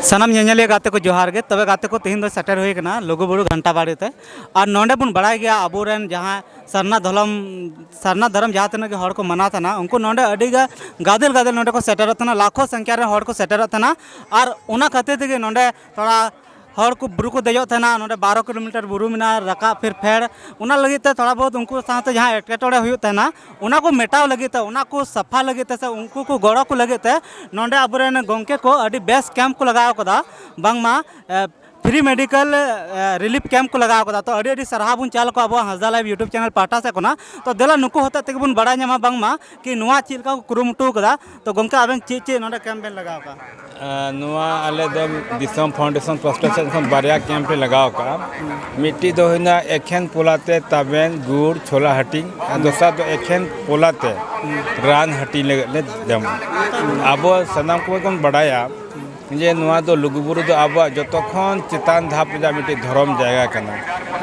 ᱥᱟᱱᱟᱢ ᱧᱮᱧᱮᱞᱤᱭᱟᱹ ᱜᱟᱛᱮ ᱠᱚ ᱡᱚᱦᱟᱨ ᱜᱮ ᱛᱚᱵᱮ ᱜᱟᱛᱮ ᱠᱚ ᱛᱮᱦᱮᱧ ᱫᱚ ᱥᱮᱴᱮᱨ ᱦᱩᱭ ᱟᱠᱟᱱᱟ ᱞᱩᱜᱩᱵᱩᱨᱩ ᱜᱷᱟᱱᱴᱟ ᱵᱟᱲᱮ ᱛᱮ ᱟᱨ ᱱᱚᱰᱮ ᱵᱚᱱ ᱵᱟᱲᱟᱭ ᱜᱮᱭᱟ ᱟᱵᱚᱨᱮᱱ ᱡᱟᱦᱟᱸ ᱥᱟᱨᱱᱟ ᱫᱷᱚᱞᱚᱢ ᱥᱟᱨᱱᱟ ᱫᱷᱚᱨᱚᱢ ᱡᱟᱦᱟᱸ ᱛᱤᱱᱟᱹᱜ ᱜᱮ ᱦᱚᱲ ᱠᱚ ᱢᱟᱱᱟᱣ ᱛᱟᱦᱮᱱᱟ ᱩᱱᱠᱩ ᱱᱚᱰᱮ ᱟᱹᱰᱤ ᱜᱟ ᱜᱟᱫᱮᱞ ᱜᱟᱫᱮᱞ ᱱᱚᱰᱮ ᱠᱚ ᱥᱮᱴᱮᱨᱚᱜ ᱛᱟᱦᱮᱱᱟ ᱞᱟᱠᱷᱚ ᱥᱚᱝᱠᱷᱭᱟ ᱨᱮ ᱦᱚᱲ ᱠᱚ ᱥᱮᱴᱮᱨᱚᱜ ᱛᱟᱦᱮᱱᱟ ᱟᱨ ᱚᱱᱟ ᱠᱷᱟᱹᱛᱤᱨ ᱛᱮᱜᱮ ᱱᱚᱰᱮ ᱛᱷᱚᱲᱟ ᱦᱚᱲ ᱠᱚ ᱵᱩᱨᱩ ᱠᱚ ᱫᱮᱡᱚᱜ ᱛᱟᱦᱮᱱᱟ ᱱᱚᱰᱮ ᱵᱟᱨᱚ ᱠᱤᱞᱳᱢᱤᱴᱟᱨ ᱵᱩᱨᱩ ᱢᱮᱱᱟᱜᱼᱟ ᱨᱟᱠᱟᱵ ᱯᱷᱤᱨ ᱯᱷᱮᱰ ᱚᱱᱟ ᱞᱟᱹᱜᱤᱫ ᱛᱮ ᱛᱷᱚᱲᱟ ᱵᱚᱦᱩᱛ ᱩᱱᱠᱩ ᱥᱟᱶᱛᱮ ᱡᱟᱦᱟᱸ ᱮᱴᱠᱮᱴᱚᱬᱮ ᱦᱩᱭᱩᱜ ᱛᱟᱦᱮᱱᱟ ᱚᱱᱟ ᱠᱚ ᱢᱮᱴᱟᱣ ᱞᱟᱹᱜᱤᱫ ᱛᱮ ᱚᱱᱟ ᱠᱚ ᱥᱟᱯᱷᱟ ᱞᱟᱹᱜᱤᱫ ᱛᱮ ᱥᱮ ᱩᱱᱠᱩ ᱠᱚ ᱜᱚᱲᱚ ᱠᱚ ᱞᱟᱹᱜᱤᱫ ᱛᱮ ᱱᱚᱰᱮ ᱟᱵᱚ ᱨᱮᱱ ᱜᱚᱢᱠᱮ ᱠᱚ ᱟᱹᱰᱤ ᱵᱮᱥ ᱠᱮᱢᱯ ᱠᱚ ᱞᱟᱜᱟᱣ ᱠᱟᱫᱟ ᱵᱟᱝᱢᱟ ᱯᱷᱨᱤ ᱢᱮᱰᱤᱠᱮᱞ ᱨᱤᱞᱤᱯᱷ ᱠᱮᱢᱯ ᱠᱚ ᱞᱟᱜᱟᱣ ᱠᱟᱫᱟ ᱛᱚ ᱟᱹᱰᱤ ᱟᱹᱰᱤ ᱥᱟᱨᱦᱟᱣ ᱵᱚᱱ ᱪᱟᱞ ᱟᱠᱚᱣᱟ ᱟᱵᱚᱣᱟᱜ ᱦᱟᱸᱥᱫᱟ ᱞᱟᱭᱤᱵᱷ ᱤᱭᱩᱴᱩᱵᱽ ᱪᱮᱱᱮᱞ ᱯᱟᱦᱴᱟ ᱥᱮᱫ ᱠᱷᱚᱱᱟᱜ ᱛᱚ ᱫᱮᱞᱟ ᱱᱩᱠᱩ ᱦᱚᱛᱮᱡ ᱛᱮᱜᱮ ᱵᱚᱱ ᱵᱟᱲᱟᱭ ᱧᱟᱢᱟ ᱵᱟᱝᱢᱟ ᱠᱤ ᱱᱚᱣᱟ ᱪᱮᱫ ᱞᱮᱠᱟ ᱠᱚ ᱠᱩᱨᱩᱢᱩᱴᱩ ᱠᱟᱫᱟ ᱛᱚ ᱜᱚᱢᱠᱮ ᱟᱵᱮᱱ ᱪᱮᱫ ᱪᱮᱫ ᱱᱚᱰᱮ ᱠᱮᱢᱯ ᱵᱮᱱ ᱞᱟᱜᱟᱣ ᱠᱟᱜᱼᱟ ᱱᱚᱣᱟ ᱟᱞᱮ ᱫᱚ ᱫᱤᱥᱚᱢ ᱯᱷᱟᱣᱩᱱᱰᱮᱥᱚᱱ ᱯᱟᱥᱴᱟ ᱥᱮᱫ ᱠᱷᱚᱱ ᱵᱟᱨᱭᱟ ᱠᱮᱢᱯ ᱞᱮ ᱞᱟᱜᱟᱣ ᱠᱟᱜᱼᱟ ᱢᱤᱫᱴᱤᱡ ᱫᱚ ᱦᱩᱭᱱᱟ ᱮᱠᱷᱮᱱ ᱯᱚᱞᱟᱛᱮ ᱛᱟᱵᱮᱱ ᱜᱩᱲ ᱪᱷᱳᱞᱟ ᱦᱟᱹᱴᱤᱧ ᱟᱨ ᱫᱚᱥᱟᱨ ᱫᱚ ᱮᱠᱷᱮᱱ ᱯᱚᱞᱟᱛᱮ ᱨᱟᱱ ᱦᱟᱹᱴᱤᱧ ᱞᱟᱹᱜᱤᱫ ᱞᱮ ᱡᱚᱢᱟ ᱟᱵᱚ ᱥᱟᱱᱟᱢ ᱠᱚᱜᱮ ᱵᱚᱱ ᱵᱟᱰᱟᱭᱟ ᱡᱮ ᱱᱚᱣᱟ ᱫᱚ ᱞᱩᱜᱩᱵᱩᱨᱩ ᱫᱚ ᱟᱵᱚᱣᱟᱜ ᱡᱚᱛᱚ ᱠᱷᱚᱱ ᱪᱮᱛᱟᱱ ᱫᱷᱟᱯ ᱨᱮᱭᱟᱜ ᱢᱤᱫᱴᱤᱡ ᱫᱷᱚᱨᱚᱢ ᱡᱟᱭᱜᱟ ᱠᱟᱱᱟ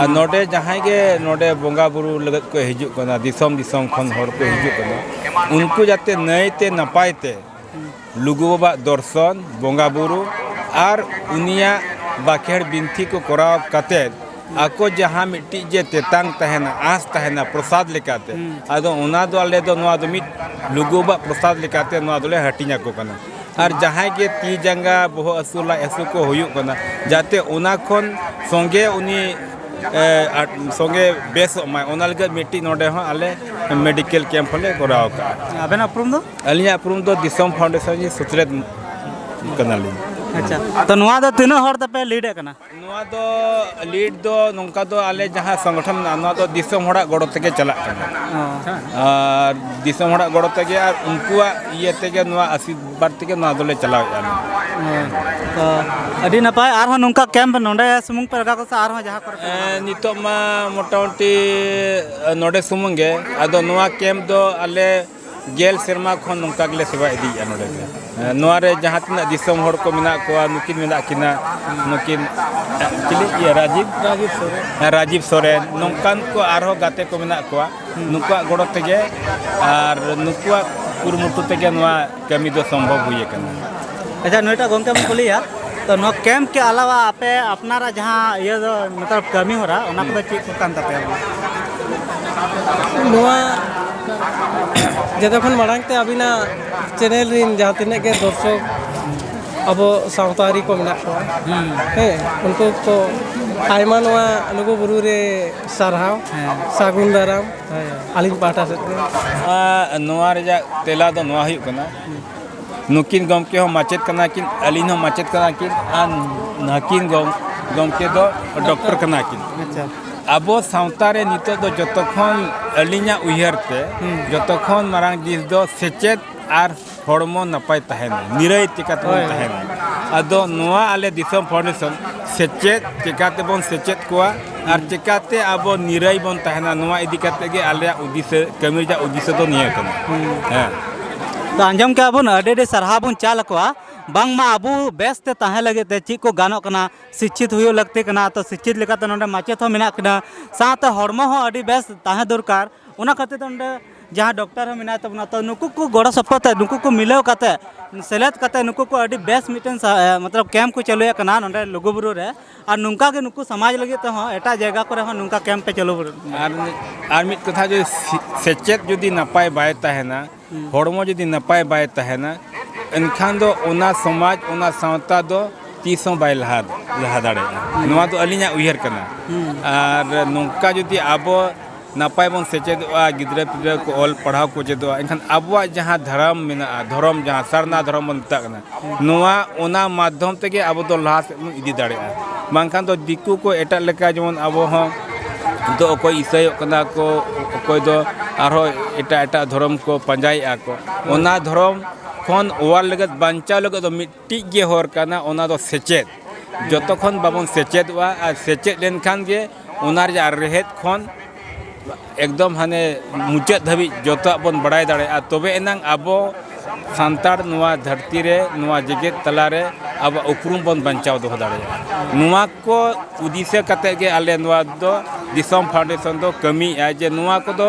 ᱟᱨ ᱱᱚᱰᱮ ᱡᱟᱦᱟᱸᱭ ᱜᱮ ᱱᱚᱰᱮ ᱵᱚᱸᱜᱟ ᱵᱩᱨᱩ ᱞᱟᱹᱜᱤᱫ ᱠᱚ ᱦᱤᱡᱩᱜ ᱠᱟᱱᱟ ᱫᱤᱥᱚᱢ ᱫᱤᱥᱚᱢ ᱠᱷᱚᱱ ᱦᱚᱲ ᱠᱚ ᱦᱤᱡᱩᱜ ᱠᱟᱱᱟ ᱩᱱᱠᱩ ᱡᱟᱛᱮ ᱱᱟᱹᱭᱛᱮ ᱱᱟᱯᱟᱭ ᱛᱮ ᱞᱩᱜᱩ ᱵᱟᱵᱟᱣᱟᱜ ᱫᱚᱨᱥᱚᱱ ᱵᱚᱸᱜᱟ ᱵᱩᱨᱩ ᱟᱨ ᱩᱱᱤᱭᱟᱜ ᱵᱟᱠᱷᱮᱲ ᱵᱤᱱᱛᱤ ᱠᱚ ᱠᱚᱨᱟᱣ ᱠᱟᱛᱮ ᱟᱠᱚ ᱡᱟᱦᱟᱸ ᱢᱤᱫᱴᱤᱡ ᱡᱮ ᱛᱮᱛᱟᱝ ᱛᱟᱦᱮᱱᱟ ᱟᱸᱥ ᱛᱟᱦᱮᱱᱟ ᱯᱨᱚᱥᱟᱫ ᱞᱮᱠᱟᱛᱮ ᱟᱫᱚ ᱚᱱᱟ ᱫᱚ ᱟᱞᱮ ᱫᱚ ᱱᱚᱣᱟ ᱫᱚ ᱢᱤᱫ ᱞᱩᱜᱩ ᱵᱟᱵᱟᱣᱟᱜ ᱯᱨᱚᱥᱟᱫ ᱞᱮᱠᱟᱛᱮ ᱱᱚᱣᱟ ᱫᱚᱞᱮ ᱦᱟᱹᱴᱤᱧ ᱟᱠᱚ ᱠᱟᱱᱟ ᱟᱨ ᱡᱟᱦᱟᱸᱭ ᱜᱮ ᱛᱤ ᱡᱟᱸᱜᱟ ᱵᱚᱦᱚᱜ ᱦᱟᱹᱥᱩ ᱞᱟᱡ ᱦᱟᱹᱥᱩ ᱠᱚ ᱦᱩᱭᱩᱜ ᱠᱟᱱᱟ ᱡᱟᱛᱮ ᱚᱱᱟ ᱠᱷᱚᱱ ᱥᱚᱸᱜᱮ ᱩᱱᱤ ᱥᱚᱸᱜᱮ ᱵᱮᱥᱚᱜ ᱢᱟᱭ ᱚᱱᱟ ᱞᱟᱹᱜᱤᱫ ᱢᱤᱫᱴᱤᱡ ᱱᱚᱰᱮ ᱦᱚᱸ ᱟᱞᱮ ᱢᱮᱰᱤᱠᱮᱞ ᱠᱮᱢᱯ ᱦᱚᱸᱞᱮ ᱠᱚᱨᱟᱣ ᱠᱟᱜᱼᱟ ᱟᱵᱮᱱᱟᱜ ᱩᱯᱨᱩᱢ ᱫᱚ ᱟᱹᱞᱤᱧᱟᱜ ᱩᱯᱨᱩᱢ ᱫᱚ ᱫᱤᱥᱚᱢ ᱯᱷᱟᱣᱩᱱᱰᱮᱥᱚᱱ ᱨᱤᱱᱤᱡ ᱥᱩᱛᱨᱮᱛ ᱠᱟᱱᱟᱞᱤᱧ ᱟᱪᱪᱷᱟ ᱛᱚ ᱱᱚᱣᱟ ᱫᱚ ᱛᱤᱱᱟᱹᱜ ᱦᱚᱲ ᱛᱮᱯᱮ ᱞᱤᱰ ᱮᱫ ᱠᱟᱱᱟ ᱱᱚᱣᱟ ᱫᱚ ᱞᱤᱰ ᱫᱚ ᱱᱚᱝᱠᱟ ᱫᱚ ᱟᱞᱮ ᱡᱟᱦᱟᱸ ᱥᱚᱝᱜᱚᱴᱷᱚᱱ ᱢᱮᱱᱟᱜᱼᱟ ᱱᱚᱣᱟ ᱫᱚ ᱫᱤᱥᱚᱢ ᱦᱚᱲᱟᱜ ᱜᱚᱲᱚ ᱛᱮᱜᱮ ᱪᱟᱞᱟᱜ ᱠᱟᱱᱟ ᱟᱨ ᱫᱤᱥᱚᱢ ᱦᱚᱲᱟᱜ ᱜᱚᱲᱚ ᱛᱮᱜᱮ ᱟᱨ ᱩᱱᱠᱩᱣᱟᱜ ᱤᱭᱟᱹ ᱛᱮᱜᱮ ᱱᱚᱣᱟ ᱟᱥᱤᱨᱵᱟᱫᱽ ᱛᱮᱜᱮ ᱱᱚᱣᱟ ᱫᱚᱞᱮ ᱪᱟᱞᱟᱣᱮᱫᱼᱟ ᱛᱚ ᱟᱹᱰᱤ ᱱᱟᱯᱟᱭ ᱟᱨᱦᱚᱸ ᱱᱚᱝᱠᱟ ᱠᱮᱢᱯ ᱱᱚᱰᱮ ᱥᱩᱢᱩᱝ ᱯᱮ ᱞᱟᱜᱟᱣ ᱠᱚᱥᱟ ᱟᱨᱦᱚᱸ ᱡᱟᱦᱟᱸ ᱠᱚᱨᱮ ᱱᱤᱛᱚᱜ ᱢᱟ ᱢᱚᱴᱟᱢᱩᱴᱤ ᱱᱚᱰᱮ ᱥᱩᱢᱩᱝ ᱜᱮ ᱟᱫᱚ ᱱᱚᱣᱟ ᱠᱮᱢᱯ ᱫᱚ ᱟᱞᱮ ᱜᱮᱞ ᱥᱮᱨᱢᱟ ᱠᱷᱚᱱ ᱱᱚᱝᱠᱟ ᱜᱮᱞᱮ ᱥᱮᱵᱟ ᱤᱫᱤᱭᱮᱫᱼᱟ ᱱᱚᱰᱮ ᱫᱚ ᱱᱚᱣᱟ ᱨᱮ ᱡᱟᱦᱟᱸ ᱛᱤᱱᱟᱹᱜ ᱫᱤᱥᱚᱢ ᱦᱚᱲ ᱠᱚ ᱢᱮᱱᱟᱜ ᱠᱚᱣᱟ ᱱᱩᱠᱤᱱ ᱢᱮᱱᱟᱜ ᱠᱤᱱᱟ ᱱᱩᱠᱤᱱ ᱪᱤᱞᱤ ᱤᱭᱟᱹ ᱨᱟᱡᱤᱵ ᱨᱟᱡᱤᱵ ᱥᱚᱨᱮᱱ ᱨᱟᱡᱤᱵ ᱥᱚᱨᱮᱱ ᱱᱚᱝᱠᱟᱱ ᱠᱚ ᱟᱨᱦᱚᱸ ᱜᱟᱛᱮ ᱠᱚ ᱢᱮᱱᱟᱜ ᱠᱚᱣᱟ ᱱᱩᱠᱩᱣᱟᱜ ᱜᱚᱲᱚ ᱛᱮᱜᱮ ᱟᱨ ᱱᱩᱠᱩᱣᱟᱜ ᱠᱩᱨᱩᱢᱩᱴᱩ ᱛᱮᱜᱮ ᱱᱚᱣᱟ ᱠᱟᱹᱢᱤ ᱫᱚ ᱥᱚᱢᱵᱷᱚᱵ ᱦᱩᱭ ᱟᱠᱟᱱᱟ ᱟᱪᱪᱷᱟ ᱱᱩᱭᱴᱟᱜ ᱜᱚᱝᱠᱮ ᱵᱚᱱ ᱠᱩᱞᱤᱭᱟ ᱛᱚ ᱱᱚᱣᱟ ᱠᱮᱢᱯ ᱠᱮ ᱟᱞᱟᱣᱟ ᱟᱯᱮ ᱟᱯᱱᱟᱨᱟᱜ ᱡᱟᱦᱟᱸ ᱤᱭᱟᱹ ᱫᱚ ᱢᱚᱛᱞᱚᱵ ᱠᱟᱹᱢᱤ ᱦᱚᱨᱟ ᱚᱱᱟ ᱠᱚᱫᱚ ᱪᱮᱫ ᱠᱚ ᱠᱟᱱ ᱛᱟᱯᱮᱭᱟ ᱱᱚᱣᱟ ᱡᱚᱛᱚ ᱠᱷᱚᱱ ᱢᱟᱲᱟᱝ ᱛᱮ ᱟᱹᱵᱤᱱᱟᱜ ᱪᱮᱱᱮᱞ ᱨᱤᱱ ᱡᱟᱦᱟᱸ ᱛᱤᱱᱟᱹᱜ ᱜᱮ ᱫᱚᱨᱥᱚᱠ ᱟᱵᱚ ᱥᱟᱶᱛᱟᱨᱤ ᱠᱚ ᱢᱮᱱᱟᱜ ᱠᱚᱣᱟ ᱦᱮᱸ ᱩᱱᱠᱩ ᱠᱚ ᱟᱭᱢᱟ ᱱᱚᱣᱟ ᱞᱩᱜᱩ ᱵᱩᱨᱩ ᱨᱮ ᱥᱟᱨᱦᱟᱣ ᱥᱟᱹᱜᱩᱱ ᱫᱟᱨᱟᱢ ᱟᱹᱞᱤᱧ ᱯᱟᱦᱴᱟ ᱥᱮᱫ ᱠᱷᱚᱱ ᱱᱚᱣᱟ ᱨᱮᱭᱟᱜ ᱛᱮᱞᱟ ᱫᱚ ᱱᱚᱣᱟ ᱦᱩᱭᱩᱜ ᱠᱟᱱᱟ ᱱᱩᱠᱤᱱ ᱜᱚᱢᱠᱮ ᱦᱚᱸ ᱢᱟᱪᱮᱫ ᱠᱟᱱᱟ ᱠᱤᱱ ᱟᱹᱞᱤᱧ ᱦᱚᱸ ᱢᱟᱪᱮᱫ ᱠᱟᱱᱟ ᱠᱤᱱ ᱟᱨ ᱱᱟᱹᱠᱤᱱ ᱜᱚᱢᱠᱮ ᱫᱚ ᱰᱚᱠᱴᱚᱨ ᱠᱟᱱᱟ ᱠᱤᱱ ᱟᱵᱚ ᱥᱟᱶᱛᱟ ᱨᱮ ᱱᱤᱛᱚᱜ ᱫᱚ ᱡᱚᱛᱚ ᱠᱷᱚᱱ ᱟᱹᱞᱤᱧᱟᱜ ᱩᱭᱦᱟᱹᱨ ᱛᱮ ᱡᱚᱛᱚ ᱠᱷᱚᱱ ᱢᱟᱨᱟᱝ ᱡᱤᱱᱤᱥ ᱫᱚ ᱥᱮᱪᱮᱫ ᱟᱨ ᱦᱚᱲᱢᱚ ᱱᱟᱯᱟᱭ ᱛᱟᱦᱮᱱᱟ ᱱᱤᱨᱟᱹᱭ ᱪᱤᱠᱟᱹᱛᱮ ᱵᱚᱱ ᱛᱟᱦᱮᱱᱟ ᱟᱫᱚ ᱱᱚᱣᱟ ᱟᱞᱮ ᱫᱤᱥᱚᱢ ᱯᱷᱟᱣᱩᱱᱰᱮᱥᱚᱱ ᱥᱮᱪᱮᱫ ᱪᱤᱠᱟᱹᱛᱮᱵᱚᱱ ᱥᱮᱪᱮᱫ ᱠᱚᱣᱟ ᱟᱨ ᱪᱮᱠᱟᱛᱮ ᱟᱵᱚ ᱱᱤᱨᱟᱹᱭ ᱵᱚᱱ ᱛᱟᱦᱮᱱᱟ ᱱᱚᱣᱟ ᱤᱫᱤ ᱠᱟᱛᱮ ᱜᱮ ᱟᱞᱮᱭᱟᱜ ᱩᱫᱤᱥᱟᱹ ᱠᱟᱹᱢᱤ ᱨᱮᱭᱟᱜ ᱩᱫᱤᱥᱟᱹ ᱫᱚ ᱱᱤᱭᱟᱹ ᱠᱟᱱᱟ ᱦᱮᱸ ᱛᱚ ᱟᱸᱡᱚᱢ ᱠᱮᱜᱼᱟ ᱵᱚᱱ ᱟᱹᱰᱤ ᱟᱹᱰᱤ ᱥᱟᱨᱦᱟᱣ ᱵᱚᱱ ᱪᱟᱞ ᱟᱠᱚᱣᱟ ᱵᱟᱝᱢᱟ ᱟᱵᱚ ᱵᱮᱥ ᱛᱮ ᱛᱟᱦᱮᱸ ᱞᱟᱹᱜᱤᱫ ᱛᱮ ᱪᱮᱫ ᱠᱚ ᱜᱟᱱᱚᱜ ᱠᱟᱱᱟ ᱥᱤᱪᱪᱷᱤᱛ ᱦᱩᱭᱩᱜ ᱞᱟᱹᱠᱛᱤ ᱠᱟᱱᱟ ᱛᱚ ᱥᱤᱪᱪᱷᱤᱛ ᱞᱮᱠᱟᱛᱮ ᱱᱚᱰᱮ ᱢᱟᱪᱮᱫ ᱦᱚᱸ ᱢᱮᱱᱟᱜ ᱠᱤᱱᱟ ᱥᱟᱶᱛᱮ ᱦᱚᱲᱢᱚ ᱦᱚᱸ ᱟᱹᱰᱤ ᱵᱮᱥ ᱛᱟᱦᱮᱸ ᱫᱚᱨᱠᱟᱨ ᱚᱱᱟ ᱠᱷᱟᱹᱛᱤᱨ ᱛᱮ ᱱᱚᱰᱮ ᱡᱟᱦᱟᱸ ᱰᱚᱠᱴᱚᱨ ᱦᱚᱸ ᱢᱮᱱᱟᱭ ᱛᱟᱵᱚᱱᱟ ᱛᱚ ᱱᱩᱠᱩ ᱠᱚ ᱜᱚᱲᱚ ᱥᱚᱯᱚᱦᱚᱫ ᱛᱮ ᱱᱩᱠᱩ ᱠᱚ ᱢᱤᱞᱟᱹᱣ ᱠᱟᱛᱮ ᱥᱮᱞᱮᱫ ᱠᱟᱛᱮ ᱱᱩᱠᱩ ᱠᱚ ᱟᱹᱰᱤ ᱵᱮᱥ ᱢᱤᱫᱴᱮᱱ ᱥᱟ- ᱮ, ᱢᱚᱛᱞᱚᱵ ᱠᱮᱢᱯ ᱠᱚ ᱪᱟᱹᱞᱩᱭᱮᱫ ᱠᱟᱱᱟ ᱱᱚᱰᱮ ᱞᱩᱜᱩᱵᱩᱨᱩ ᱨᱮ ᱟᱨ ᱱᱚᱝᱠᱟ ᱜᱮ ᱱᱩᱠᱩ ᱥᱚᱢᱟᱡᱽ ᱞᱟᱹᱜᱤᱫ ᱛᱮᱦᱚᱸ ᱮᱴᱟᱜ ᱡᱟᱭᱜᱟ ᱠᱚᱨᱮ ᱦᱚᱸ ᱱᱚᱝᱠᱟ ᱠᱮᱢᱯ ᱯᱮ ᱪᱟᱹᱞᱩ ᱟᱨ ᱟᱨ ᱢᱤᱫ ᱠᱟᱛᱷᱟ ᱡᱩᱫᱤ ᱥᱮᱪᱮᱫ ᱡᱩᱫᱤ ᱱᱟᱯᱟᱭ ᱵᱟᱭ ᱛᱟᱦᱮᱱᱟ ᱦᱚᱲᱢᱚ ᱡᱩᱫᱤ ᱱᱟᱯᱟᱭ ᱵᱟᱭ ᱛᱟᱦᱮᱱᱟ ᱮᱱᱠᱷᱟᱱ ᱫᱚ ᱚᱱᱟ ᱥᱚᱢᱟᱡᱽ ᱚᱱᱟ ᱥᱟᱶᱛᱟ ᱫᱚ ᱛᱤᱥ ᱦᱚᱸ ᱵᱟᱭ ᱞᱟᱦᱟ ᱞᱟᱦᱟ ᱫᱟᱲᱮᱭᱟᱜᱼᱟ ᱱᱚᱣᱟ ᱫᱚ ᱟᱹᱞᱤᱧᱟᱜ ᱩᱭᱦᱟᱹᱨ ᱠᱟᱱᱟ ᱟᱨ ᱱᱚᱝᱠᱟ ᱡᱩᱫᱤ ᱟᱵᱚ ᱱᱟᱯᱟᱭ ᱵᱚᱱ ᱥᱮᱪᱮᱫᱚᱜᱼᱟ ᱜᱤᱫᱽᱨᱟᱹ ᱯᱤᱫᱽᱨᱟᱹ ᱠᱚ ᱚᱞ ᱯᱟᱲᱦᱟᱣ ᱠᱚ ᱪᱮᱫᱚᱜᱼᱟ ᱮᱱᱠᱷᱟᱱ ᱟᱵᱚᱣᱟᱜ ᱡᱟᱦᱟᱸ ᱫᱷᱚᱨᱚᱢ ᱢᱮᱱᱟᱜᱼᱟ ᱫᱷᱚᱨᱚᱢ ᱡᱟᱦᱟᱸ ᱥᱟᱨᱱᱟ ᱫᱷᱚᱨᱚᱢ ᱵᱚᱱ ᱢᱮᱛᱟᱜ ᱠᱟᱱᱟ ᱱᱚᱣᱟ ᱚᱱᱟ ᱢᱟᱫᱽᱫᱷᱚᱢ ᱛᱮᱜᱮ ᱟᱵᱚ ᱫᱚ ᱞᱟᱦᱟ ᱥᱮᱫ ᱵᱚᱱ ᱤᱫᱤ ᱫᱟᱲᱮᱭᱟᱜᱼᱟ ᱵᱟᱝᱠᱷᱟᱱ ᱫᱚ ᱫᱤᱠᱩ ᱠᱚ ᱮᱴᱟᱜ ᱞᱮᱠᱟ ᱡᱮᱢᱚᱱ ᱟᱵᱚ ᱦᱚᱸ ᱫᱚ ᱚᱠᱚᱭ ᱤᱥᱟᱹᱭᱚᱜ ᱠᱟᱱᱟ ᱠᱚ ᱚᱠᱚᱭ ᱫᱚ ᱟᱨᱦᱚᱸ ᱮᱴᱟᱜ ᱮᱴᱟᱜ ᱫᱷᱚᱨᱚᱢ ᱠᱚ ᱯᱟᱸᱡᱟᱭᱮᱜᱼᱟ ᱠᱚ ᱚᱱᱟ ᱫᱷᱚᱨᱚᱢ ᱠᱷᱚᱱ ᱚᱣᱟᱨ ᱞᱟᱹᱜᱤᱫ ᱵᱟᱧᱪᱟᱣ ᱞᱟᱹᱜᱤᱫ ᱫᱚ ᱢᱤᱫ ᱢᱤᱫᱴᱤᱡ ᱜᱮ ᱦᱚᱨ ᱠᱟᱱᱟ ᱚᱱᱟ ᱫᱚ ᱥᱮᱪᱮᱫ ᱡᱚᱛᱚ ᱠᱷᱚᱱ ᱵᱟᱵᱚᱱ ᱥᱮᱪᱮᱫᱚᱜᱼᱟ ᱟᱨ ᱥᱮᱪᱮᱫ ᱞᱮᱱᱠᱷᱟᱱ ᱜᱮ ᱚᱱᱟ ᱨᱮᱭᱟᱜ ᱨᱮᱦᱮᱫ ᱠᱷᱚᱱ ᱮᱠᱫᱚᱢ ᱦᱟᱱᱮ ᱢᱩᱪᱟᱹᱫ ᱫᱷᱟᱹᱵᱤᱡ ᱡᱚᱛᱚᱣᱟᱜ ᱵᱚᱱ ᱵᱟᱲᱟᱭ ᱫᱟᱲᱮᱭᱟᱜᱼᱟ ᱛᱚᱵᱮ ᱮᱱᱟᱝ ᱟᱵᱚ ᱥᱟᱱᱛᱟᱲ ᱱᱚᱣᱟ ᱫᱷᱟᱹᱨᱛᱤ ᱨᱮ ᱱᱚᱣᱟ ᱡᱮᱜᱮᱛ ᱛᱟᱞᱟ ᱨᱮ ᱟᱵᱚᱣᱟᱜ ᱩᱯᱨᱩᱢ ᱵᱚᱱ ᱵᱟᱧᱪᱟᱣ ᱫᱚᱦᱚ ᱫᱟᱲᱮᱭᱟᱜᱼᱟ ᱱᱚᱣᱟ ᱠᱚ ᱫᱤᱥᱟᱹ ᱠᱟᱛᱮᱫ ᱜᱮ ᱟᱞᱮ ᱱᱚᱣᱟ ᱫᱚ ᱫᱤᱥᱚᱢ ᱯᱷᱟᱣᱩᱱᱰᱮᱥᱚᱱ ᱫᱚ ᱠᱟᱹᱢᱤᱭᱮᱫᱼᱟᱭ ᱡᱮ ᱱᱚᱣᱟ ᱠᱚᱫᱚ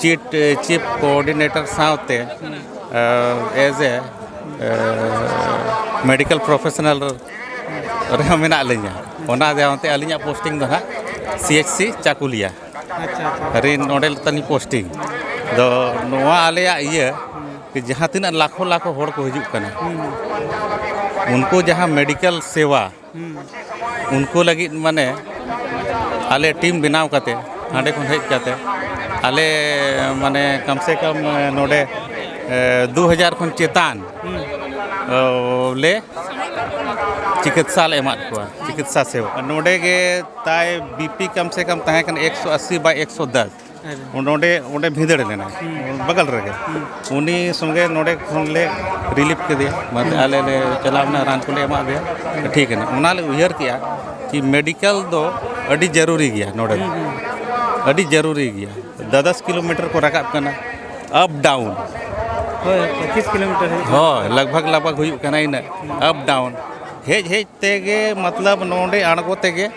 ᱪᱤᱴ ᱪᱤᱯ ᱠᱳᱚᱨᱰᱤᱱᱮᱴᱚᱨ ᱥᱟᱶᱛᱮ ᱮᱡ ᱮ ᱢᱮᱰᱤᱠᱮᱞ ᱯᱨᱚᱯᱷᱮᱥᱚᱱᱟᱞ ᱨᱮᱦᱚᱸ ᱢᱮᱱᱟᱜ ᱞᱤᱧᱟ ᱚᱱᱟ ᱡᱟᱶᱛᱮ ᱟᱹᱞᱤᱧᱟᱜ ᱯᱳᱥᱴᱤᱝ ᱫᱚ ᱦᱟᱸᱜ ᱥᱤ ᱮᱪ ᱥᱤ ᱪᱟᱠᱩᱞᱤᱭᱟ ᱨᱮ ᱱᱚᱰᱮ ᱛᱟᱹᱞᱤᱧ ᱯᱳᱥᱴᱤᱝ ᱫᱚ ᱱᱚᱣᱟ ᱟᱞᱮᱭᱟᱜ ᱤᱭᱟᱹ ᱡᱟᱦᱟᱸ ᱛᱤᱱᱟᱹᱜ ᱞᱟᱠᱷᱚ ᱞᱟᱠᱷᱚ ᱦᱚᱲ ᱠᱚ ᱦᱤᱡᱩᱜ ᱠᱟᱱᱟ ᱩᱱᱠᱩ ᱡᱟᱦᱟᱸ ᱢᱮᱰᱤᱠᱮᱞ ᱥᱮᱵᱟ ᱩᱱᱠᱩ ᱞᱟᱹᱜᱤᱫ ᱢᱟᱱᱮ ᱟᱞᱮ ᱴᱤᱢ ᱵᱮᱱᱟᱣ ᱠᱟᱛᱮ ᱦᱟᱸᱰᱮ ᱠᱷᱚᱱ ᱦᱮᱡ ᱠᱟᱛᱮ ᱟᱞᱮ ᱢᱟᱱᱮ ᱠᱚᱢ ᱥᱮ ᱠᱚᱢ ᱱᱚᱰᱮ ᱫᱩ ᱦᱟᱡᱟᱨ ᱠᱷᱚᱱ ᱪᱮᱛᱟᱱ ᱞᱮ ᱪᱤᱠᱤᱛᱥᱟ ᱞᱮ ᱮᱢᱟᱫ ᱠᱚᱣᱟ ᱪᱤᱠᱤᱛᱥᱟ ᱥᱮᱵᱟ ᱱᱚᱰᱮ ᱜᱮ ᱛᱟᱭ ᱵᱤ ᱯᱤ ᱠᱚᱢ ᱥᱮ ᱠᱚᱢ ᱛᱟᱦᱮᱸ ᱠᱟᱱᱟ ᱮᱠᱥᱚ ᱟᱹᱥᱤ ᱵᱟᱭ ᱮᱠᱥᱚ ᱫᱚᱥ ᱱᱚᱰᱮ ᱚᱸᱰᱮ ᱵᱷᱤᱸᱫᱟᱹᱲ ᱞᱮᱱᱟ ᱵᱟᱜᱟᱞ ᱨᱮᱜᱮ ᱩᱱᱤ ᱥᱚᱸᱜᱮ ᱱᱚᱰᱮ ᱠᱷᱚᱱ ᱞᱮ ᱨᱤᱞᱤᱯᱷ ᱠᱮᱫᱮᱭᱟ ᱢᱟᱱᱮ ᱟᱞᱮ ᱞᱮ ᱪᱟᱞᱟᱣ ᱮᱱᱟ ᱨᱟᱱ ᱠᱚᱞᱮ ᱮᱢᱟᱜ ᱫᱮᱭᱟ ᱴᱷᱤᱠ ᱮᱱᱟ ᱚᱱᱟ ᱞᱮ ᱩᱭᱦᱟᱹᱨ ᱠᱮᱜᱼᱟ ᱠᱤ ᱢᱮᱰᱤᱠᱮᱞ ᱫᱚ ᱟᱹᱰᱤ ᱡᱟᱹᱨᱩᱨᱤ ᱜᱮᱭᱟ ᱱᱚᱰᱮ ᱫᱚ ᱟᱹᱰᱤ ᱡᱟᱹᱨᱩᱨᱤ ᱜᱮᱭᱟ ᱫᱚᱥ ᱫᱚᱥ ᱠᱤᱞᱳᱢᱤᱴᱟᱨ ᱠᱚ ᱨᱟᱠᱟᱵ ᱠᱟᱱᱟ ᱟᱯ ᱰᱟᱣᱩᱱ ᱦᱳᱭ ᱯᱚᱸᱪᱤᱥ ᱠᱤᱞᱳᱢᱤᱴᱟᱨ ᱦᱩᱭᱩᱜ ᱠᱟᱱᱟ ᱦᱳᱭ ᱞᱟᱜᱽ ᱵᱷᱟᱜᱽ ᱞᱟᱜᱽ ᱵᱷᱟᱜᱽ ᱦᱩᱭᱩᱜ ᱠᱟᱱᱟ ᱤᱱᱟᱹᱜ ᱟᱯ ᱰᱟᱣᱩᱱ ᱦᱮᱡ ᱦᱮᱡ ᱛᱮᱜᱮ ᱢᱚᱛᱞᱚᱵ ᱱᱚᱰᱮ ᱟᱬᱜᱚ ᱛᱮᱜᱮ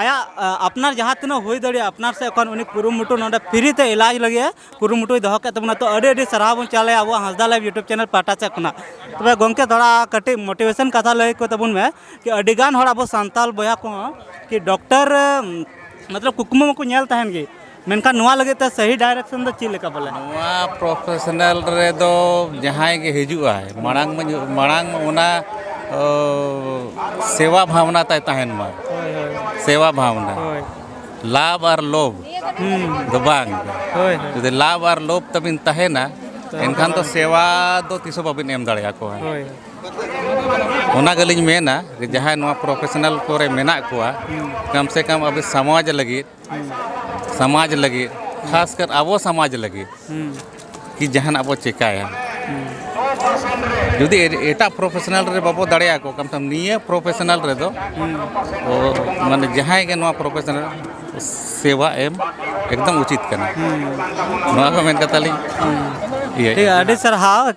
ᱟᱭᱟᱜ ᱟᱯᱱᱟᱨ ᱡᱟᱦᱟᱸ ᱛᱤᱱᱟᱹᱜ ᱦᱩᱭ ᱫᱟᱲᱮᱭᱟᱜᱼᱟ ᱟᱯᱱᱟᱨ ᱥᱮᱫ ᱠᱷᱚᱱ ᱩᱱᱤ ᱠᱩᱨᱩᱢᱩᱴᱩ ᱱᱚᱰᱮ ᱯᱷᱨᱤ ᱛᱮ ᱮᱞᱟᱡᱽ ᱞᱟᱹᱜᱤᱫ ᱮ ᱠᱩᱨᱩᱢᱩᱴᱩᱭ ᱫᱚᱦᱚ ᱠᱮᱫ ᱛᱟᱵᱚᱱᱟ ᱛᱚ ᱟᱹᱰᱤ ᱟᱹᱰᱤ ᱥᱟᱨᱦᱟᱣ ᱵᱚᱱ ᱪᱟᱞᱮ ᱟᱵᱚᱣᱟᱜ ᱦᱟᱸᱥᱫᱟ ᱞᱟᱭᱤᱵᱷ ᱤᱭᱩᱴᱩᱵᱽ ᱪᱮᱱᱮᱞ ᱯᱟᱦᱴᱟ ᱥᱮᱫ ᱠᱷᱚᱱᱟᱜ ᱛᱚᱵᱮ ᱜᱚᱢᱠᱮ ᱛᱷᱚᱲᱟ ᱠᱟᱹᱴᱤᱡ ᱢᱳᱴᱤᱵᱷᱮᱥᱚᱱ ᱠᱟᱛᱷᱟ ᱞᱟᱹᱭ ᱠᱚ ᱛᱟᱵᱚᱱ ᱢᱮ ᱠᱤ ᱟᱹᱰᱤ ᱜᱟᱱ ᱦᱚᱲ ᱟᱵᱚ ᱥᱟᱱᱛᱟᱲ ᱵᱚᱭᱦᱟ ᱠᱚᱦᱚᱸ ᱠᱤ ᱰᱚᱠᱴᱚᱨ ᱢᱚᱛᱞᱚᱵ ᱠᱩᱠᱢᱩ ᱢᱟᱠᱚ ᱧᱮᱞ ᱛᱟᱦᱮᱱ ᱜᱮ ᱢᱮᱱᱠᱷᱟᱱ ᱱᱚᱣᱟ ᱞᱟᱹᱜᱤᱫ ᱛᱮ ᱥᱟᱹᱦᱤ ᱰᱟᱭᱨᱮᱠᱥᱚᱱ ᱫᱚ ᱪᱮᱫ ᱞᱮᱠᱟ ᱵᱚᱞᱮ ᱱᱚᱣᱟ ᱯᱨᱚᱯᱷᱮᱥᱚᱱᱟᱞ ᱨᱮᱫᱚ ᱡᱟᱦᱟᱸᱭ ᱜᱮ ᱦᱤᱡᱩᱜ ᱟᱭ ᱢᱟᱲᱟᱝ ᱢᱟ ᱢᱟᱲᱟᱝ ᱚᱱᱟ ᱥᱮᱵᱟ ᱵᱷᱟᱵᱽᱱᱟ ᱛᱟᱭ ᱛᱟᱦᱮᱱ ᱢᱟ ᱥᱮᱵᱟ ᱵᱷᱟᱵᱽᱱᱟ ᱞᱟᱵᱷ ᱟᱨ ᱞᱳᱵᱷ ᱫᱚ ᱵᱟᱝ ᱡᱩᱫᱤ ᱞᱟᱵᱷ ᱟᱨ ᱞᱳᱵᱷ ᱛᱟᱵᱤᱱ ᱛᱟᱦᱮᱱᱟ ᱮᱱᱠᱷᱟᱱ ᱫᱚ ᱥᱮᱵᱟ ᱫᱚ ᱛᱤᱥ ᱦᱚᱸ ᱵᱟᱵᱤᱱ ᱮᱢ ᱫᱟᱲᱮ ᱟᱠᱚᱣᱟ ᱚᱱᱟ ᱜᱮᱞᱤᱧ ᱢᱮᱱᱟ ᱡᱟᱦᱟᱸᱭ ᱱᱚᱣᱟ ᱯᱨᱚᱯᱷᱮᱥᱚᱱᱟᱞ ᱠᱚᱨᱮ ᱢᱮᱱᱟᱜ ᱠᱚᱣᱟ ᱠᱚᱢ ᱥᱮ ᱠᱚᱢ ᱟᱵᱚ ᱥᱚᱢᱟᱡᱽ ᱞᱟᱹᱜᱤᱫ ᱥᱚᱢᱟᱡᱽ ᱞᱟᱹᱜᱤᱫ ᱠᱷᱟᱥ ᱠᱟᱨ ᱟᱵᱚ ᱥᱚᱢᱟᱡᱽ ᱞᱟᱹᱜᱤᱫ ᱠᱤ ᱡᱟᱦᱟᱱᱟᱜ ᱵᱚ ᱪᱮᱠᱟᱭᱟ ᱡᱩᱫᱤ ᱮᱴᱟᱜ ᱯᱨᱚᱯᱷᱮᱥᱚᱱᱟᱞ ᱨᱮ ᱵᱟᱵᱚ ᱫᱟᱲᱮᱭᱟᱠᱚ ᱠᱟᱱ ᱠᱷᱟᱱ ᱱᱤᱭᱟᱹ ᱯᱨᱚᱯᱷᱮᱥᱚᱱᱟᱞ ᱨᱮᱫᱚ ᱢᱟᱱᱮ ᱡᱟᱦᱟᱸᱭ ᱜᱮ ᱱᱚᱣᱟ ᱯᱨᱚᱯᱷᱮᱥᱚᱱᱟᱞ ᱥᱮᱵᱟ ᱮᱢ ᱮᱠᱫᱚᱢ ᱩᱪᱤᱛ ᱠᱟᱱᱟ ᱱᱚᱣᱟ ᱠᱚ ᱢᱮᱱ ᱠᱟᱛᱮᱫ ᱟᱹᱞᱤᱧ ᱤᱭᱟᱹᱭᱮᱫᱼᱟ ᱟᱹᱰᱤ ᱥᱟᱨᱦᱟᱣ